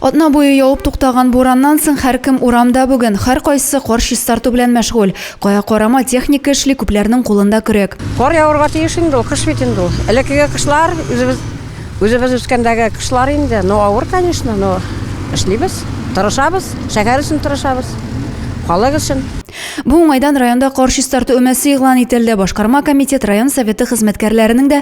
Атна буе явып туктаган бураннан соң һәркем урамда бүген, һәркайсы кар чистарту белән мәшгуль. Кая карама, техника эшли, күпләрнең кулында көрәк. Кар явырга тиеш инде ул, кыш бит инде ул. Элеккеге кышлар, үзебез, үзебез үскәндәге кышлар инде, ну, авыр, конечно, но эшлибез, тырышабыз, шәһәр өчен тырышабыз, халык өчен. Бу уңайдан районда кар чистарту өмәсе игълан ителде. Башкарма комитет, район Советы хезмәткәрләренең дә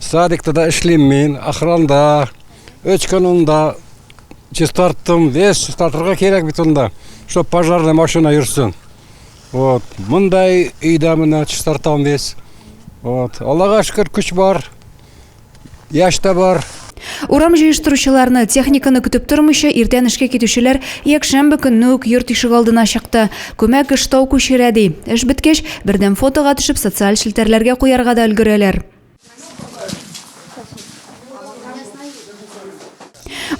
Садикта да эшлим мин, охранда. Өч көн унда чистарттым, весь чистартырга кирәк бит унда, чтоб пожарный машина йөрсен. Вот, мындай өйдә менә чистартам весь. Вот, Аллага шөкер, көч бар, яшь тә бар. Урам җыештыручыларны, техниканы көтеп тормыйча, иртән эшкә китүчеләр якшәмбе көнне үк йорт ишегалдына чыкты. Күмәк эш тау күчерә, ди. Эш беткәч, бердәм фотога төшеп, социаль челтәрләргә куярга да өлгерәләр.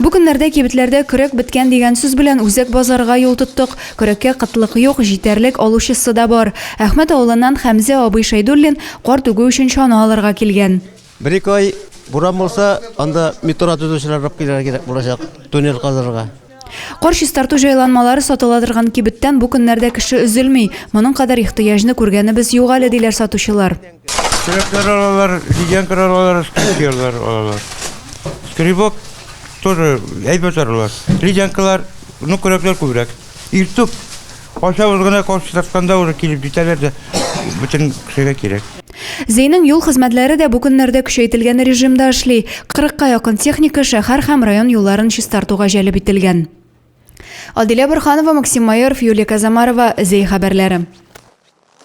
Бу көннәрдә кибетләрдә көрәк беткән дигән сүз белән Үзәк базарга юл тоттык. Көрәккә кытлык юк, җитәрлек, алучысы да бар. Әхмәт авылыннан Хәмзә абый Шәйдуллин карт үгү өчен чана алырга килгән. Бер-ике ай буран булса, анда метро төзүчеләр рып килергә кирәк булачак, туннель казырга. Кар чистарту җайланмалары сатыла торган кибеттән бу көннәрдә кеше өзелми. Моның кадәр ихтыяҗны күргәнебез юк әле, диләр сатучылар. Көрәкләр алалар, ледянкалар алалар, скрипкалар алалар. Скребок тоже әйбәт аралар. Ледянкалар, ну, көрәкләр күбрәк. Иртүк качабыз гына каршы чыкканда уже килеп җитәләр дә бөтен кешегә кирәк. Зейнең юл хезмәтләре дә бу көннәрдә көчәйтелгән режимда эшли. Кырыкка якын техника шәһәр һәм район юлларын чистартуга җәлеп ителгән. Адилә Борханова, Максим Майоров, Юлия Казамарова, Зей хәбәрләре.